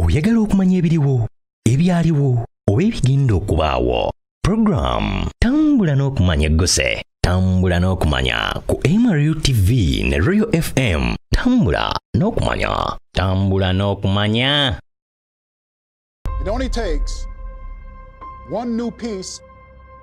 oyagala okumanya ebiriwo ebyaliwo oba ebigenda okubaawo puroguramu tambula n'okumanya egguse tambula n'okumanya ku mru tv ne royal fm tambula n'okumanya tambula n'okumanya It only takes one new piece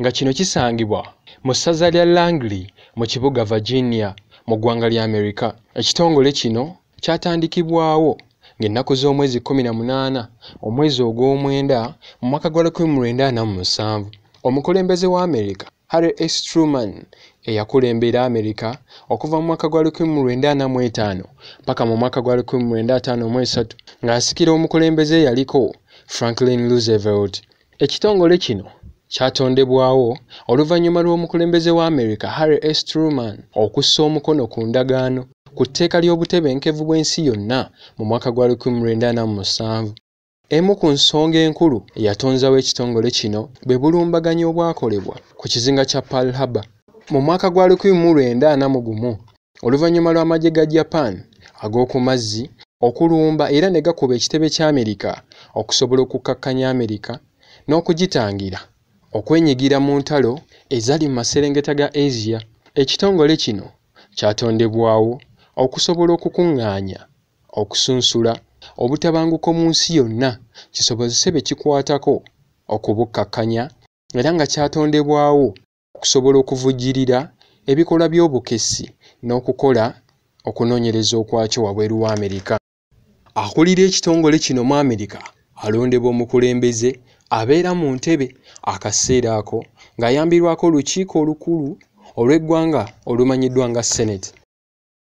nga kino kisangibwa mu ssaza lya Langley mu kibuga Virginia mu ggwanga lya Amerika. Ekitongole kino kyatandikibwawo ng'ennaku z'omwezi 18 omwezi ogw'omwenda mu mwaka gwa 1947 omukulembeze wa Amerika Harry S. Truman eyakulembera Amerika okuva mu mwaka gwa 1945 mpaka mu mwaka gwa 1953 ng'asikira omukulembeze eyaliko Franklin Roosevelt. Ekitongole kino kyatondebwawo oluvannyuma lw'omukulembeze wa Amerika Harry S. Truman okussa omukono ku ndagaano ku tteeka ly'obutebenkevu bw'ensi yonna mu mwaka gwa 1947. Emu ku nsonga enkulu eyatonzawo ekitongole kino bwe bulumbaganyi obwakolebwa ku kizinga kya Pearl Harbor mu mwaka gwa 1941. oluvannyuma lw'amagye ga Japan ag'oku mazzi okulumba era ne gakuba ekitebe kya Amerika okusobola okukkakkanya Amerika n'okugitangira okwenyigira mu ntalo ezali mu maserengeta ga Asia. Ekitongole kino kyatondebwawo okusobola okukuŋŋaanya, okusunsula, obutabanguko mu nsi yonna kisobozese be kikwatako okubukkakkanya era nga kyatondebwawo okusobola okuvujjirira ebikolwa by'obukessi n'okukola okunoonyereza okwakyo wabweru wa Amerika. Akulira ekitongole kino mu Amerika alondebwa omukulembeze abeera mu ntebe akaseera ako ng'ayambirwako olukiiko olukulu olw'eggwanga olumanyiddwa nga Senate.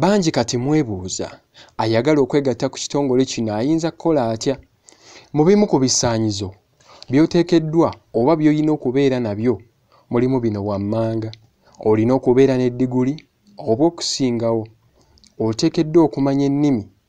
Bangi kati mwebuuza ayagala okwegatta ku kitongole kino ayinza kukola atya? Mu bimu ku bisaanyizo by'oteekeddwa oba by'olina okubeera nabyo mulimu bino wammanga. Olina okubeera ne diguli oba okusingawo. Oteekeddwa okumanya ennimi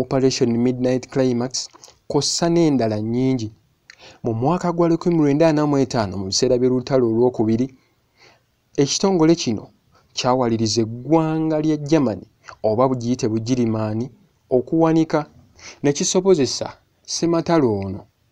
operation midnight climax kossa n'endala nnyingi mu mwaka gwa 1945 mu biseera by'olutalo olw'okubiri ekitongole kino kyawaliriza eggwanga lya germany oba bugiyite bugirimaani okuwanika ne kisobozesa sematalo ono